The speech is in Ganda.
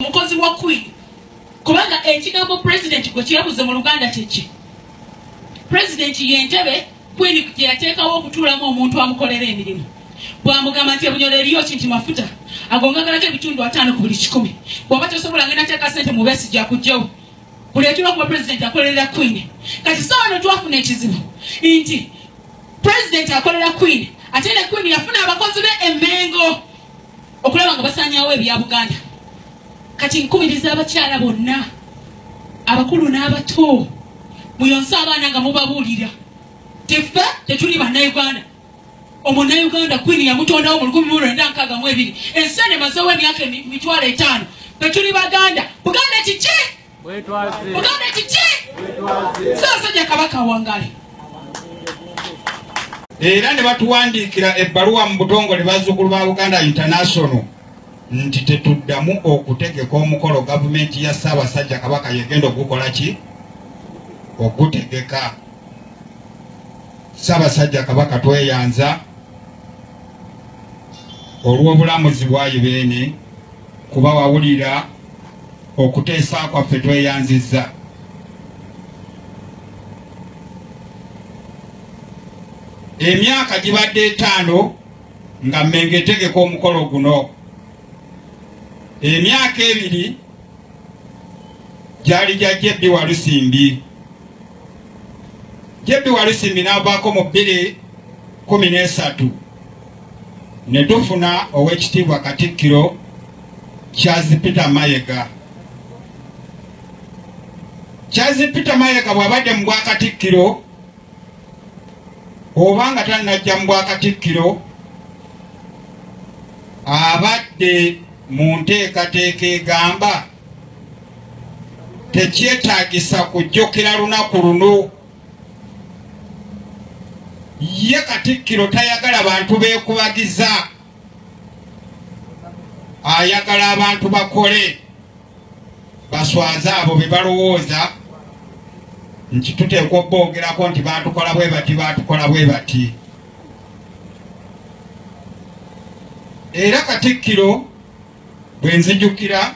mukozi wa queen kubanga ekigambo president gwe kirabuze mu luganda kyekye president yentebe queen gyeyateekawo okutuulamu omuntu amukolera emirimu bwamugamba nti ebunyolo eriyo ki nti mafuta agongagalako ebitundu ataano ku buli kikumi bwaba tosobola ngenda teeka sente mubesi jakujjawo buli ekiba kuba president akolerera queen kati sawa no twafuna ekizibu nti president akolera queen ate ne queen yafuna abakozi be emengo okulaba nga basanyawo ebya buganda kati nkubiriza abakyala bonna abakulu n'abato muyonse abaana nga mubabuulira tefe tetuli bannayuganda omunayuganda kwini yamutondawo mu lukumi mulwenda nkaaga mu ebiri ensi ene mazewo emyaka emitwalo etaano betuli baganda buganda kiki muganda kiki sasajja kabaka wangale era ne batuwandiikira ebbaluwa mu butongole bazzukulu ba buganda international nti tetuddamu okutegeka omukolo gavumenti ya ssaabasajja kabaka yegenda okugukola ki okugutegeka ssaabasajja kabaka tweyanza olw'obulamuzi bwayi beene kuba wawulira okuteesa kwaffe tweyanzizza emyaka gibadde etaano nga mmenga etegeka omukolo guno emyaka ebiri gyali gya jebbi walusimbi jebbi walusimbi n'avaako mu bbiri kumi n'esatu ne tufuna ow'ekitiibwa Katikkiro Charles Peter Mayega. Charles Peter Mayega bw'abadde mu bwakatikkiro oba nga tannajja mu bwakatikkiro abadde mu nteekateeka egamba tekyetaagisa kujjukira lunaku luno ye katikkiro tayagala bantu bekubagiza ayagala abantu bakole baswaze abo bebalowooza nti tuteekwa obboogerako nti batukola bwe bati batukola bwe bati era katikkiro bwe nzijukira